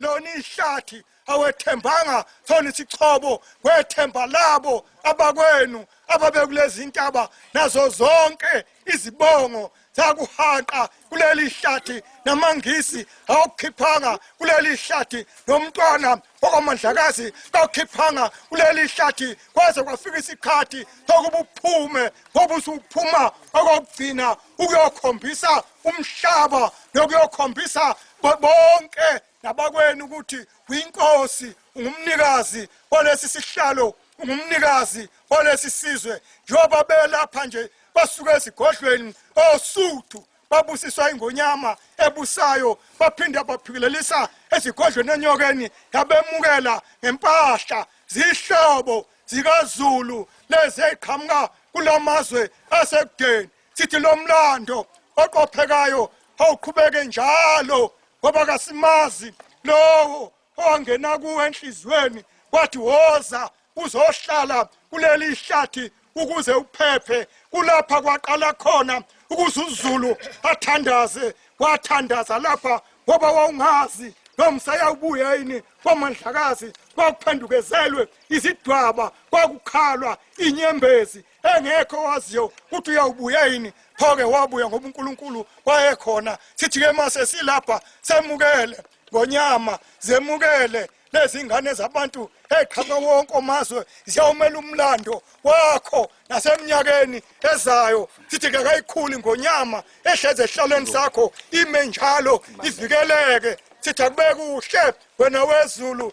lona ihlathi awethembanga sona isichobo kwethemba labo abakwenu ababekulezi ntaba nazo zonke izibongo zakuhanqa kuleli hlathi namangisi awukhiphanga kuleli hlathi nomntwana okwamandlakazi kawukhiphanga kuleli hlathi kwaze kwafika isikhathi sokuba uphume ngoba usuphuma okokugcina ukuyokhombisa umhlaba nokuyokhombisa bonke nabakwenu ukuthi winkosi ungumnikazi olesi sihlalo ungumnikazi olesi sizwe njengoba belapha nje basuke esigodlweni osuthu babusiswa ingonyama ebusayo baphinde baphikelelisa ezigodlweni enyokeni yabemukela ngempahla zihlobo zikazulu lezi eziqhamuka kulamazwe asekudeni sithi lo mlando oqophekayo awuqhubeke njalo ngoba kasimazi lowo owangena kuwe enhliziyweni wathi woza uzohlala kuleli hlathi ukuze uphephe kulapha kwaqala khona ukuze uzulu athandaze wathandaza lapha ngoba wawungazi nomsaya ubuya yini kwamandlakazi kwakuphendukezelwe izidwaba kwakukhalwa inyembezi engekho owaziyo ukuthi uyawubuya yini pho-ke wabuya ngoba unkulunkulu wayekhona sithi-ke uma sesilapha semukele ngonyama zemukele lezi ngane zabantu eqhama wonke omazwe ziyawumela umlando wakho nasemnyakeni ezayo sithi kakayikhuli ngonyama ehlezi ehlalweni sakho ime njalo ivikeleke sithi akube kuhle wena wezulu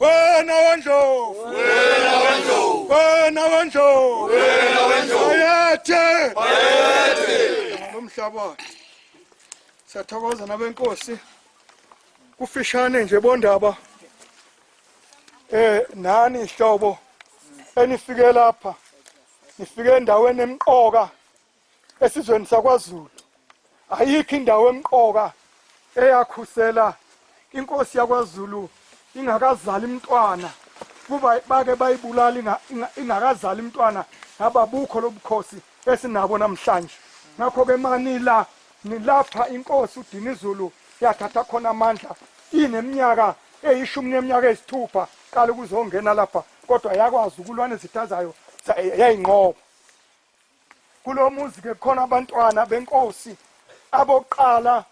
Wena wendlovu. Wena wendlovu. Wena wendlovu. Wena wendlovu. Bayethe. Bayethe. Nomhlabathi. Siyathokoza nabenkosi. Kufishane nje bondaba. Eh nani ihlobo enifike lapha. Nifike endaweni emqoka. esizweni sakwaZulu ayikho indawo emqoka eyakhusela inkosi yakwaZulu ingakazali umntwana kuba bake bayibulala ingakazali umntwana ngaba bukho lobukhosi esinabo namhlanje ngakho ke manila nilapha inkosi uDinizulu yathatha khona amandla ineminyaka eyishumi neminyaka eyisithupha qala ukuzongena lapha kodwa yakwazi ukulwa nezitha zayo yayinqoba kulo muzi ke khona abantwana benkosi abokuqala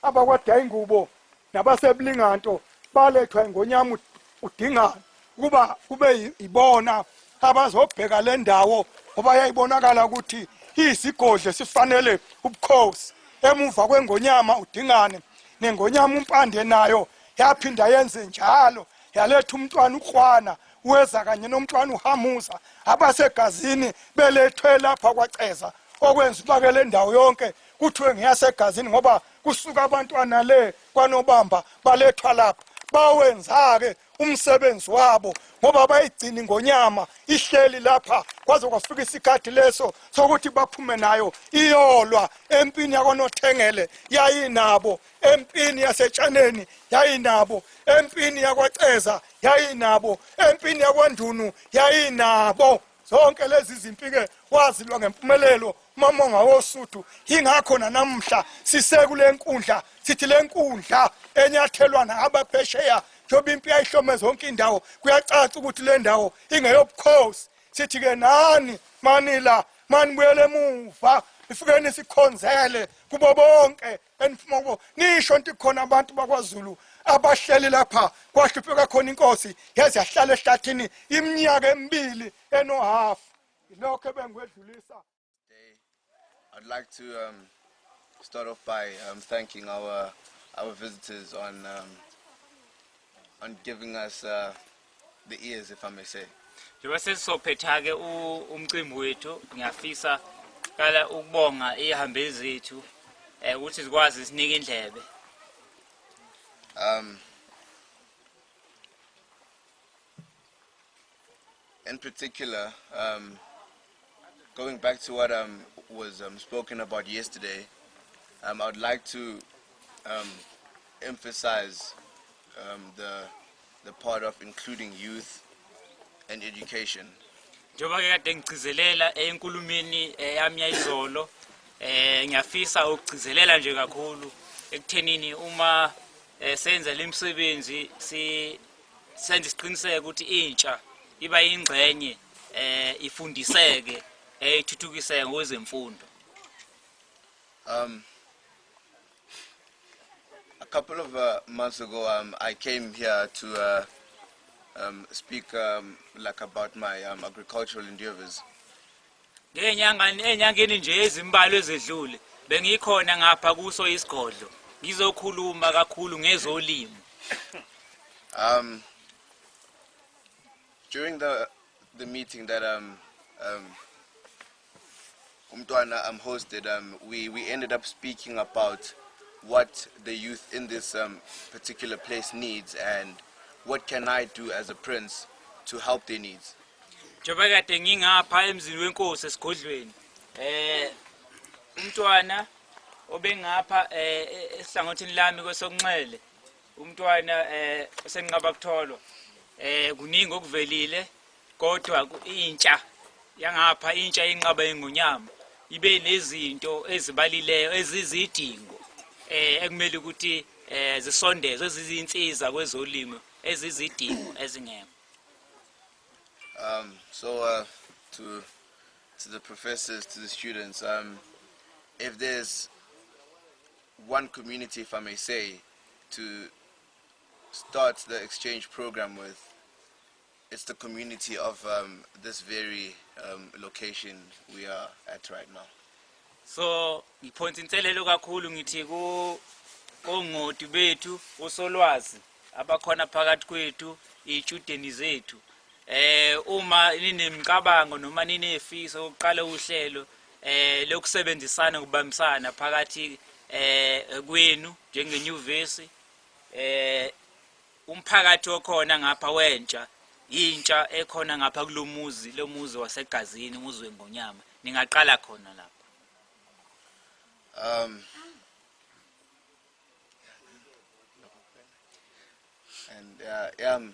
abakwadaya ingubo nabasebulinganto balethwa ingonyama udingana ukuba kube ibona abazobheka le ndawo ngoba yayibonakala ukuthi iyisigodle sifanele ubukhosi emuva kwengonyama udingane nengonyama umpande nayo yaphinda yenze njalo yaletha umntwana ukrwana weza kanye nomntwana uhamuza abasegazini belethwe lapha kwaceza okwenza ubake le ndawo yonke kuthiwe ngiyasegazini ngoba kusuka abantwana le kwanobamba balethwa lapha bawenza-ke umsebenzi wabo ngoba bayigcini ngonyama ihleli lapha kwaze kwafika isikhathi leso sokuthi baphume nayo iyolwa empini yakwaNothengele yayinabo empini yasetshaneni yayinabo empini yakwaceza yayinabo empini yakwandunu yayinabo zonke lezi zimpi-ke wazilwa ngempumelelo umamonga wosuthu yingakho nanamhla sisekule nkundla sithi le nkundla enyathelwa naabaphesheya njengoba impi yayihlome zonke indawo kuyacaca ukuthi le ndawo ingeyobukhosi sithi-ke nani manila manibuyele emuva ifikeni sikhonzele kubo bonke benifuma ukuba nisho nti khona abantu bakwaZulu abahleli lapha kwahlupheka khona inkosi yaze yahlala ehlathini iminyaka emibili enohalf lokho ebengikwedlulisa I'd like to um, start off by um, thanking our our visitors on um, on giving us uh, the ears if I may say. Njengoba sesizophetha-ke u- umcimbi wethu ngiyafisa kala ukubonga iy'hambeli zethu um ukuthi zikwazi sinike indlebe Um, in particular, um, going back to what um, was um, spoken about yesterday, um, I would like to um, emphasize um, the the part of including youth and education. Njengoba ke kade ngigcizelela enkulumeni eh, yami yayizolo eh ngiyafisa ukugcizelela nje kakhulu ekuthenini uma eh, senza lemsebenzi si senza isiqiniseko ukuthi intsha iba ingxenye eh ifundiseke ethuthukiseke eh, ngezemfundo. Um A couple of uh, months ago, um, I came here to uh, um, speak um, like about my um, agricultural endeavors. Ngenyangani enyangeni nje ezimbalwa ezedlule bengikhona ngapha kuso isigodlo ngizokhuluma kakhulu ngezolimo. Um during the the meeting that um um umntwana um, hosted um, we, we ended up speaking about what the youth in this um, particular place needs and what can I do as a prince to help their needs. njengoba kade ngingapha emzini wenkosi esigodlweni eh umntwana obengapha eh e- esihlangothini lami kwesokunxele umntwana eh osenqaba kutholwa eh kuningi okuvelile kodwa intsha yangapha intsha yenqaba ingonyama ibe nezinto ezibalileyo ezizidingo eh ekumele ukuthi eh zisondezwe ezizinsiza kwezolimo ezizidingo ezingekho um so uh, to to the professors to the students um if there's one community if i may say to start the exchange program with It's the community of um, this very um, location we are at right now. So ngiphonsa inselelo kakhulu ngithi ku kongoti bethu usolwazi abakhona phakathi kwethu iy'tshudeni zethu eh uma ninemicabango noma ninefiso yokuqala uhlelo eh lokusebenzisana kubambisana phakathi eh kwenu njengenyuvesi eh umphakathi okhona ngapha wentsha yintsha ekhona ngapha kulomuzi lomuzi wasegazini umuzi wengonyama ningaqala khona lapho um and uh, yeah, um,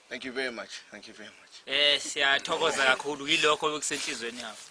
thank you very much thank you very much eh siyathokoza kakhulu yilokho okusenhlizweni yakho